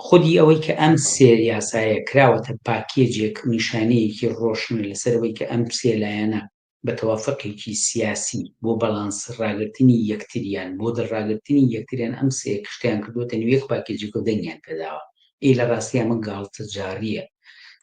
خودی ئەوەی کە ئەم سێ یاسایە کراوەتە پاکێجێک نیشانەیەکی ڕۆشنە لەسەر ئەوەی کە ئەم سێ لایەنە بە تەوافەقێکی سیاسی بۆ بەڵانس ڕاگرتنی یەکتریان بۆ دڵ ڕاگرتنی یەکتریان ئەم سێ کشتەیان کردووەتە نێو یەک پاکێجێک و دەنگیان پێداوە. ئێ لە ڕاستیا ئەمە گاڵتەجاڕییە.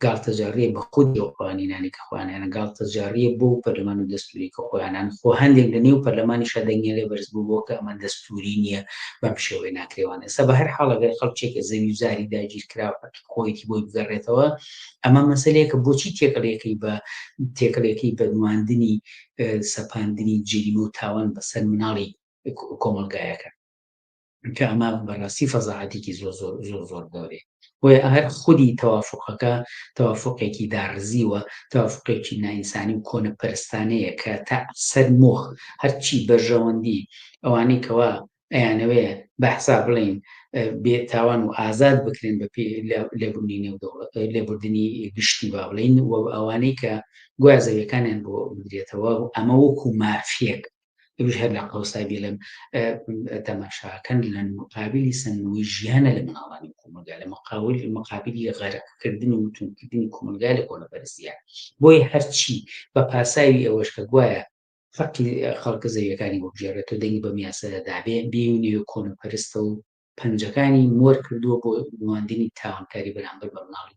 گاڵتەجاڕیە بە خودی ئەو قوانینانەی کە خۆیان هێنان، گاڵتەجاڕیە بۆ ئەو پەرلەمان و دەستووری کە خۆیان هێنان، خۆ هەندێک لە نێو پەرلەمانیشا دەنگیان لێ بەرز بووبووە کە ئەمە دەستووری نییە، بەم شێوەیە ناکرێ وانە. ئێستا بە هەر حاڵ ئەگەر خەڵکێک کە زەوی و زاری داگیرکراو حەقی خۆیەتی بۆی بگەڕێتەوە، ئەمە مەسەلەیەکە بۆچی تێکەڵیەکەی بە تێکەڵیەکەی بە نواندنی سەپاندنی جەریمە و تاوان بەسەر مناڵی کۆمەڵگایەکە؟ کە ئەمە بەڕاستی فەزاعەتێکی زۆر زۆر زۆر زۆر گەورەیە بۆیە هەر خودی تەوافقەکە تەوافقێکی داڕزیوە تەوافقێکی نائینسانی و کۆنە پەرستانەیە کە تا سەر مۆخ هەرچی بەرژەوەندی ئەوانەی کەوا ئەیانەوێ بەحسا بڵین بێ تاوان و ئازاد بکرێن بە لێبوونی نێو لێبوردنی گشتی با بڵین و ئەوانەی کە گوازەوەکانیان بۆ بدرێتەوە ئەمە وەکو مافیەک ئەویش هەر لە قەوسای بێلم تەماشاکەن لە مقابلی سندنەوەی ژیانە لە مناڵانی کۆمەلگا لە مقاول مقابلی غەرقکردن و توندکردنی کۆمەلگا لە کۆنەپەرستە بۆیە هەرچی بە پاساوی ئەوەش کە گوایە فەقی خەڵکە زەویەکانی وەبژێرێت و دەنگی بە میاسەدا دابێ بێونی و کۆنەپەرستە و پەنجەکانی مۆر کردووە بۆ نواندنی تاوانکاری بەرامبەر بە مناڵی